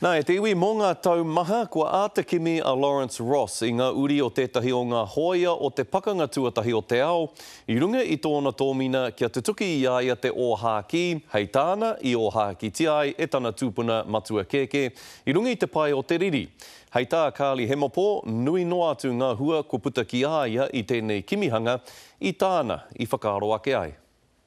Nā, e te iwi mō ngā tau maha, kua āta kimi a Lawrence Ross i ngā uri o tētahi o ngā hōia o te Pakanga Tuatahi o te Ao, i runga i tōna tōmina kia tutuki i a ia te ōhākī, hei tāna i ōhākītia ai e tana tūpuna matua kēkē, i runga i te pae o te riri. Hei tā Carly Hemopō, nui noa atu ngā hua kua puta ki a ia i tēnei kimihanga, i tāna i whakaaro ake ai.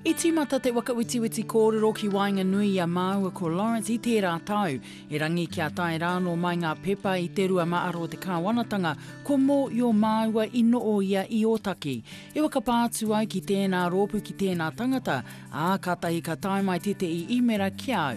I tīmata te waka wetiweti kōrero ki waenganui i a māua ko Lawrence i tērā tau, erangi kia tae rānō mai ngā pepa i te rua mā aro o te kāwanatanga, ko Mo i o māua i noo ia i Ōtaki. I whakapā atu ai ki tēnā rōpu ki tēnā tangata, ā, kātahi ka tae mai tētehi īmera ki au.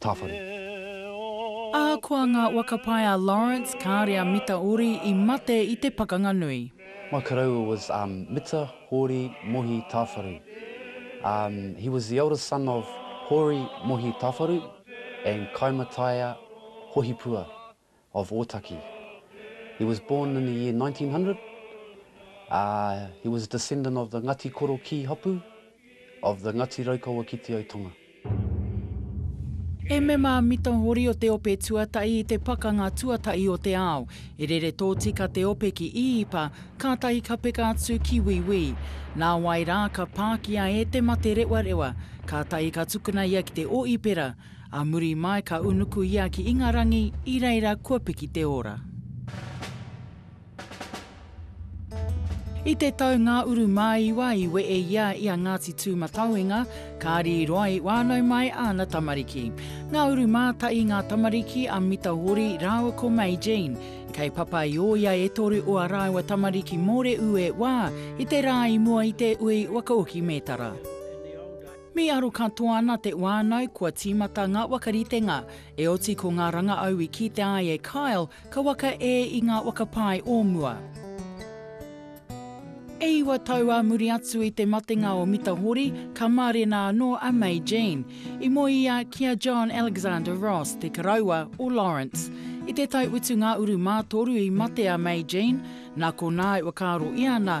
Tāwhare. Ahakoa ngā waka pai a Lawrence, kāore a Mita Ori i mate i te pakanga nui. My koroua was um Mita Hori Mohi Tawharu. Um he was the eldest son of Hori Mohi Tawharu and Kaimataia Hohipua. of Otaki. He was born in the year 1900. Uh, he was a descendant of the Ngati Koro Kī Hapu, of the Ngati Raukawa ki Te Aitonga. He mema mita hori o te ope tuatahi i te Pakanga Tuatahi o te Ao. E rere tōtika te ope ki Īipa, kātahi ka peka atu ki Wīwī. Nāwai rā ka pākia e Te Materewarewa, kātahi ka tukuna ia ki te Ōipera. A muri mai ka unuku ia ki Ingarangi i reira kua piki te ora. I te tau ngā uru māiwa i wehe ia i a Ngāti Tūmatauenga, kāri i roa i whānau mai āna tamariki. Ngā uru mātai ngā tamariki a Mita Hori rāua ko Mei Jean. Kei papa i ōia e toru o a rāua tamariki mōreū e wā i te rā i mua i te ui wakaoki mētara. Me aro katoa ana te wānau kua tīmata ngā wakaritenga, e oti ko ngā rangaau i kite ai e Kyle ka waka e i ngā waka pae o mua. E iwa tau ā muri atu i te matenga o Mita Hori, ka mārena anō a May Jean. I moe ia ki a John Alexander Ross, te karaua o Lawrence. I te tau utu ngā uru mātoru i mate a May Jean, nā konā e whakaaro i ana,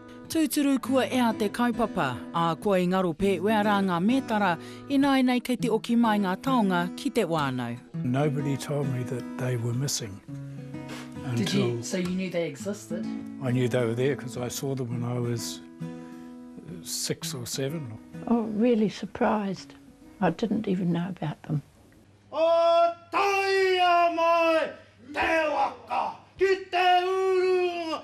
Tūturu kua ea te kaupapa, ā, kua i ngaro pēwea rā ngā mētara, ināinei kei te oki mai ngā taonga ki te wānau. Nobody told me that they were missing until. Did you, so you knew they existed? I knew they were there because I saw them when I was six or seven. Oh, really surprised. I didn't even know about them. O taia mai te waka ki te urunga